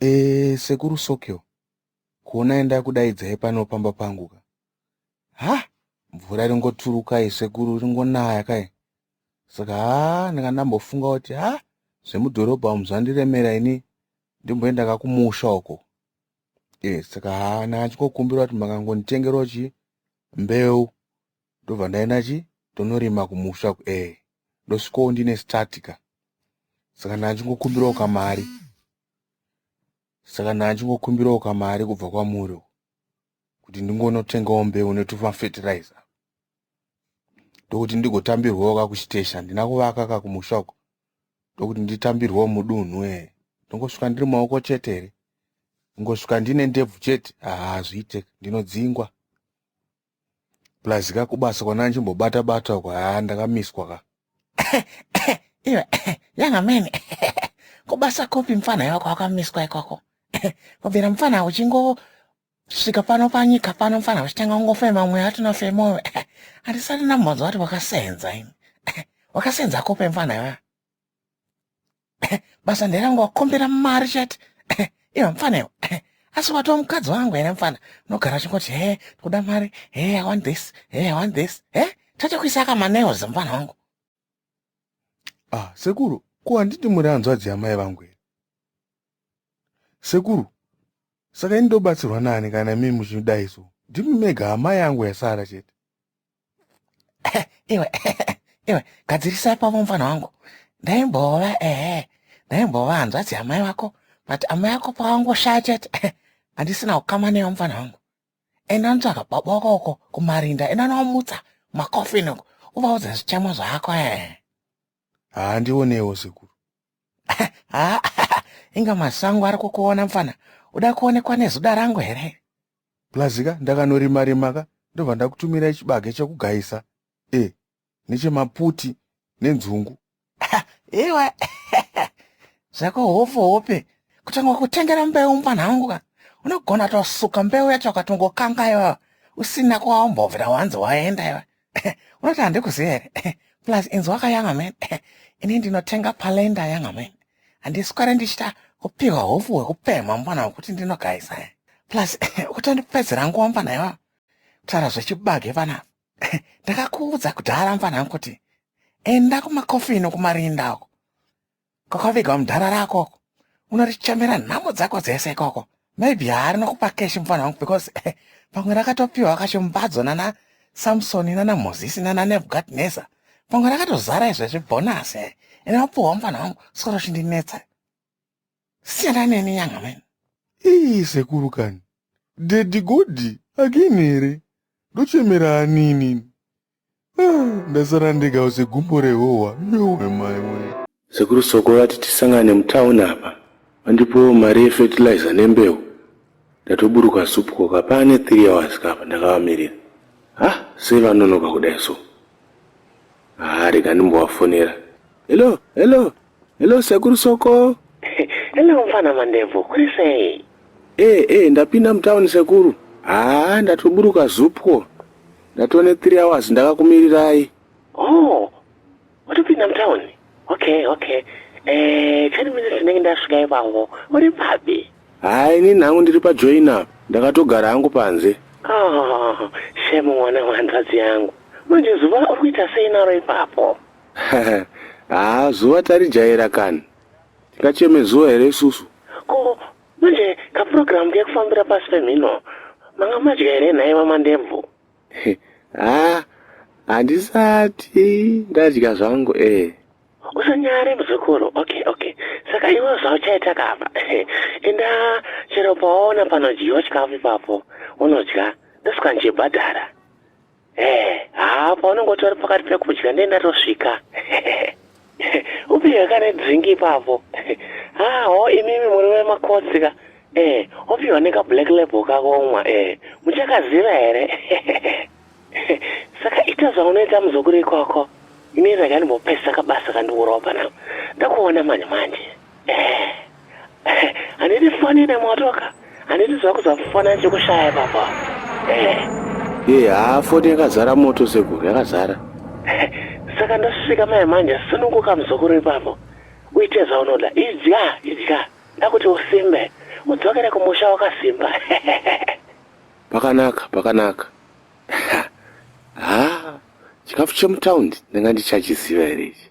Eeh sekuru Sokyo kuonai ndakudaidzai pano pamba pangu ka. Hah mvura ringoturukai sekuru ringonaya kai. Saka haa ndanga ndambofunga kuti haa zvemudhorobha umu zvandiremera ini ndimboenda kakumusha uko. Eh saka haa ndanga ndichingokumbira kuti makangonditengerawo chii mbeu ndobva ndaenda chi tonorima kumusha eh ndosvikawo ndine start ka saka ndachingokumbirawo kamari saka ndachingokumbirawo kamari kubva kwamuri kuti ndingonotengawo mbeu netuma fertilizer ndokuti ndigotambirwawo ka kuchitesha handina kuvaka ka kumusha uko ndokuti nditambirwawo mudunhu e ndongosvika ndiri maoko chete here ndingosvika ndine ndebvu chete haa hazviite ndinodzingwa plus ka kubasa kwana ndichimbobata bata uko haa ndakamiswa ka iwe yanga mene kubasa kopi mfana yako wakamiswa ikoko kubvira mfana uchingosvika pano panyika pano mfana uchitanga kungofema mweya atinofema uwe handisati ndambonzwa kuti wakasenza ini wakasenza kopi mfana iwe basa nderangu wakombera mari chete iva mfana iwe asi watova mukadzi wangu here mfana unogara chingoti he tikuda mari he i want this he i want this he tachakuisa akamaneos mfana wangu ah sekuru ko handiti muri hanzvadzi yamai vangu here Sekuru, saka ini ndobatsirwa nani kana mimi muchidai so? Ndimi mega hama yangu yasara chete. Iwe, iwe, gadzirisai pavo mfana wangu. Ndaimbova, ehe, ndaimbova hanzvadzi yamai vako, but amai vako pavangoshaya chete, handisina ukama neyo mfana wangu. Enda ndotsvaga baba wako uko kumarinda, enda nowamutsa, makofini uko, uvaudze zvichamwa zvako, ehe. haa ndionewo sekuru haa inga masango ari kukuona mfana uda kuonekwa nezuda rangu here plazika ndakanorima rima ka ndobva ndakutumira chibage chekugayisa e nechemaputi nenzungu iwe zvako hofu hope kutanga kutengera mbeu mfana wangu ka unogona tosuka mbeu yacho ukatongokangayo usina kwaombovira wanzi waenda iwe unoti handikuziva here plus inzi wakayanga man ini ndinotenga palenda yanga man handiswere ndichita kupiwa hofu hwekupemha mwana wekuti ndinogaisa plus utondipedzera nguva mvana iwa kutaura zvechibage vana ndakakuudza kudhara mvana kuti enda kumakofino kumarinda uko Kwakaviga mdhara rako uko. Unorichamera nhamo dzako dzese ikoko. Maybe haari nokupa cash mfana wangu because eh, pamwe rakatopiwa kacho mbadzo nana Samson nana Moses nana Nebuchadnezzar. Pamwe rakatozara izvo zvibonus eh. Ene wapuwa mfana wangu soro chindinetsa. Siyana neni nyanga meni. Ii sekuru kani. Daddy Godi again here? Ndochemera anini. ndasara ndega use gumbo rehohwa yowe mai wee Sekuru Soko vati tisangane mutown apa vandipewo mari yefertilizer nembeu ndatoburuka soup koka paane 3 hours ka apa ndakavamirira hah sei vanonoka kudai so haa rega ndimbovafonera hello hello Hello sekuru soko. Hello mfana mandevu, kuri sei? Eh eh ndapinda mutown sekuru. Haa ah, ndatoburuka zupwo. Ndatone 3 hours ndakakumirirai. Oh. Watopinda mutown? Okay, okay. Eh, 10 minutes ndinenge ndasvika ipango. Uri papi? Haa ini nangu ndiri pa join up. Ndakatogara hangu panze. Oh, shame mwana wanzadzi yangu. Manje zuva uri kuita sei naro ipapo? haa zuva tarijaira kani tingacheme zuva here isusu ko manje kapurogiramu kekufambira pasi pemhino manga madya here nhai vamandemvu haa handisati ndadya zvangu ee usanyare muzukuru okay okay saka iwe zvauchaita kapa enda chero pawaona panodyiwa chikafu ipapo unodya ndosika ndichibhadhara Eh, haa paunenge utori pakati pekudya ndiye ndatosvika. Upiwe kane drink ipapo. Haa ho imimi muri vemakotsi ka. Eh, upiwa neka black label kakomwa eh. Muchakaziva here? Saka ita zvaunoita muzukuru ikoko. Ini rega ndimbopedzisa kabasa kandiurova panapa. Ndakuona manje manje. Eh. Handiti fani ine motoka. Handiti zvakuzafana chekushaya baba. Ye haa foni yakazara moto sekuru yakazara. Saka ndosvika mai manje sununguka muzukuru ipapo. Uite zvaunoda. Idya idya. Ndakuti usimbe. Udzokere kumusha wakasimba. Pakanaka pakanaka. Haa chikafu chemutaundi ndanga ndichachiziva here ichi.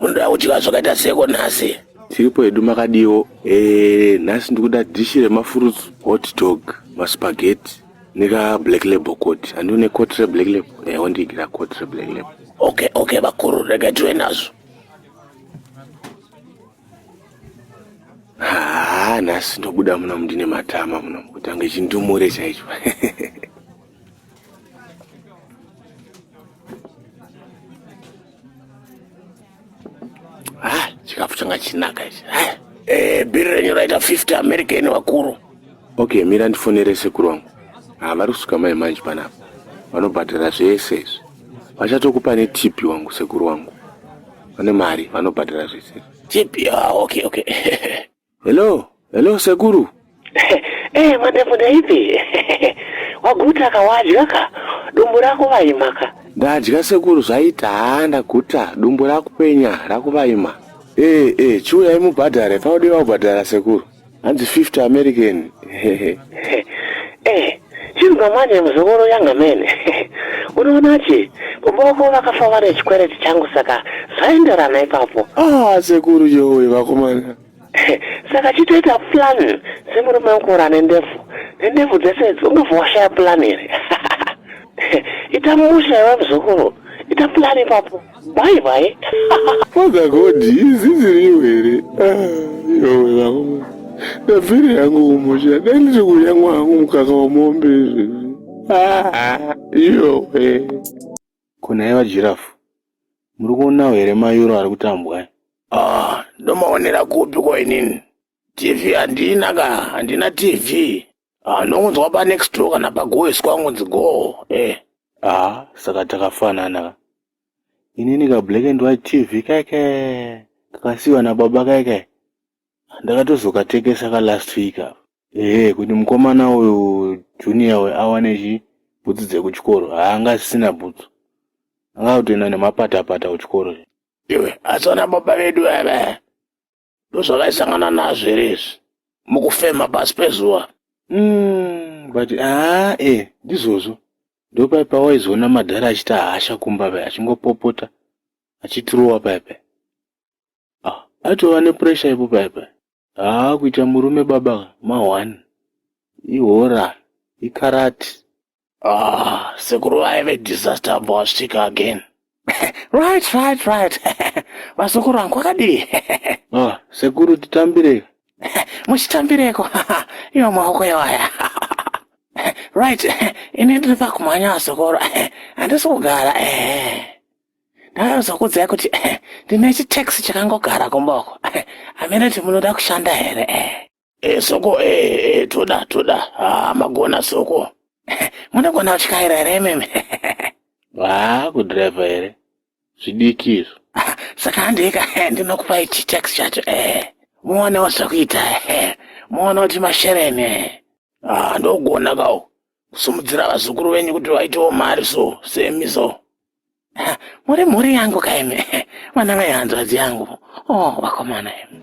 Munoda kudya zvakaita seko nhasi? Tiripo hedu makadiwo. Eh, nhasi ndikuda dish remafruits, hot dog, maspaghetti nika black label coat. Andione coat re black label. Eh, wondigira coat re black label. Okay, okay vakuru, rega tiwe nazvo. Ah, nhasi ndobuda muno mndine matama muno kutanga chindumure chaicho. chikafu changa chinaka ichi eh, eh, bhiri renyu raita 50 america ine vakuru okay mira ndifonere sekuru wangu ah, vari kusuka mai manje panapa vanobhadhara zvese izvi vachatokupa netipi wangu sekuru wangu vane mari vanobhadhara zvese tipi ah, okay okay Hello, hello sekuru. Eh, mandefu ndaipi? Waguta ka wadya ka? Dumbu rako vaima ka? Ndadya sekuru zvaita haa ndaguta dumbu rakupenya rakuvaima. Eh, eh, chiuyai mubhadhare paudei vaubhadhara sekuru. Hanzi 50 American. Eh, Chinzwa manje muzukuru yanga mene unoona che kumba wako vakafa vane chikwereti changu saka zvaenderana ipapo ah sekuru yowe vakomana saka chitoita plan semurume wekura nendefu nendefu dzese idzi ungabva washaya plan here ita musha iwe muzukuru ita plan ipapo Bye bye. Father God, izi ziriyo here? Ah, yowe vangu. Ndabvira yangu umusha. Dai ndiri kudya mwangu mukaka wemombe izvi. Ah, yowe. Kuna iva giraffe. Muri kuonawo here mayuro ari kutambwa? eh? Ah, ndomaonera kupi ko inini? TV handina ka, handina TV. Ah, ndongonzwa pa next door kana pagoiswa ngonzi go. Eh. Ah, saka takafanana ka. Inini ka black and white TV keke. Kakasiwa na baba keke. Ndakatozokatekesa ka last week apa. Eh, kuti mukomana uyu junior we awane chi bhutsu dzekuchikoro. Haanga asisina bhutsu. Anga kutoenda nemapata pata kuchikoro. Iwe, asona baba vedu ava. ndozvakaisangana nazvo here izvi mukufema pasi pezuva mm, but aa e eh, ndizvozvo ndopai pawaizoona madhara achita hasha kumba pai achingopopota achitirowa pai pai ah, atova nepuresha ipo pai pai haa ah, kuita murume baba ma one ihora ikarati Ah, sekuru vaive disaster ambva wasvika again. right, right, right. Vazukuru vangu kwakadii? ah, sekuru titambirei? Muchitambireko? Iwo maoko iwaya. right, ini ndiri pakumhanya vazukuru. Handisi kugara. Ndakazokudzai kuti ndine chitaxi chakangogara kumboko. Hamene kuti munoda kushanda here? e soko e, e toda toda ah, magona soko munogona kutyaira here imimi haa kudhiraivha here zvidiki izvo saka handika ndinokupai chitax chacho e muonewo zvakuita e muone kuti mashereni e ah, ndogona kawo kusumudzira vazukuru venyu kuti vaitewo mari so semi so muri mhuri yangu kaimi vana vai hanzvadzi yangu o oh, vakomana imi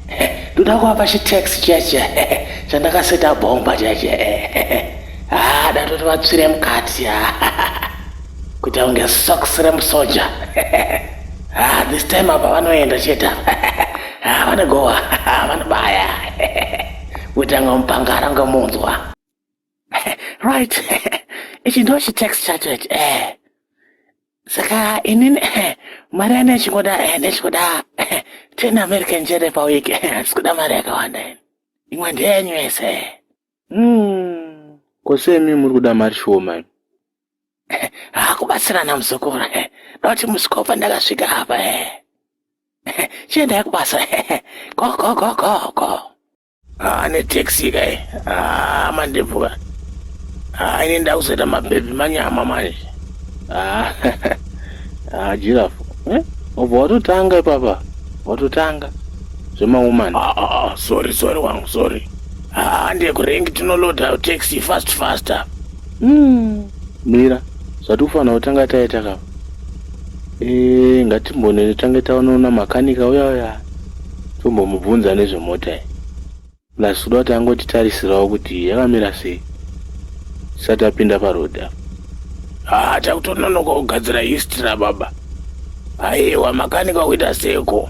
ndoda kuvapa chitax chiya chiya chandakaseta bhomba chiya chiya haa datoti vatsvire mukati ya kuti aunge sox remusoja haa this time apa vanoenda chete haa vanogowa vanobaya kuti anga mupangara ungamunzwa right ichi ndo chitex chacho ichi eh saka inini eh, mari yane ichingoda eh, ndechikuda eh, ten american jere pawiki handisi kuda mari yakawanda ini imwe ndeyenyu yese hmm. ko semi muri kuda mari shoma hakubatsirana muzukuru dauti musikopa ndakasvika apa chiendai kubasa go go go go go Ah, ane taxi kai ah, mandebvuka ah, ini ndakuzoita mabhebhi manyama manje ah, ah, jirafu eh? obva watotanga ipapa watotanga zvemawoman ah, ah, ah, sorry sorry wangu sorry ah, ndekurengi tinoloda taxi fast faster mm. mira zvatikufanira kutanga taita kapa Eh, ngatimbonene tange taonoona makanika uya uya tombomubvunza nezvemota iyi plus kuda kuti angotitarisirawo kuti yakamira sei tisati apinda parodi apa haa takutononoka kugadzira history rababa aiwa makanika kuita seko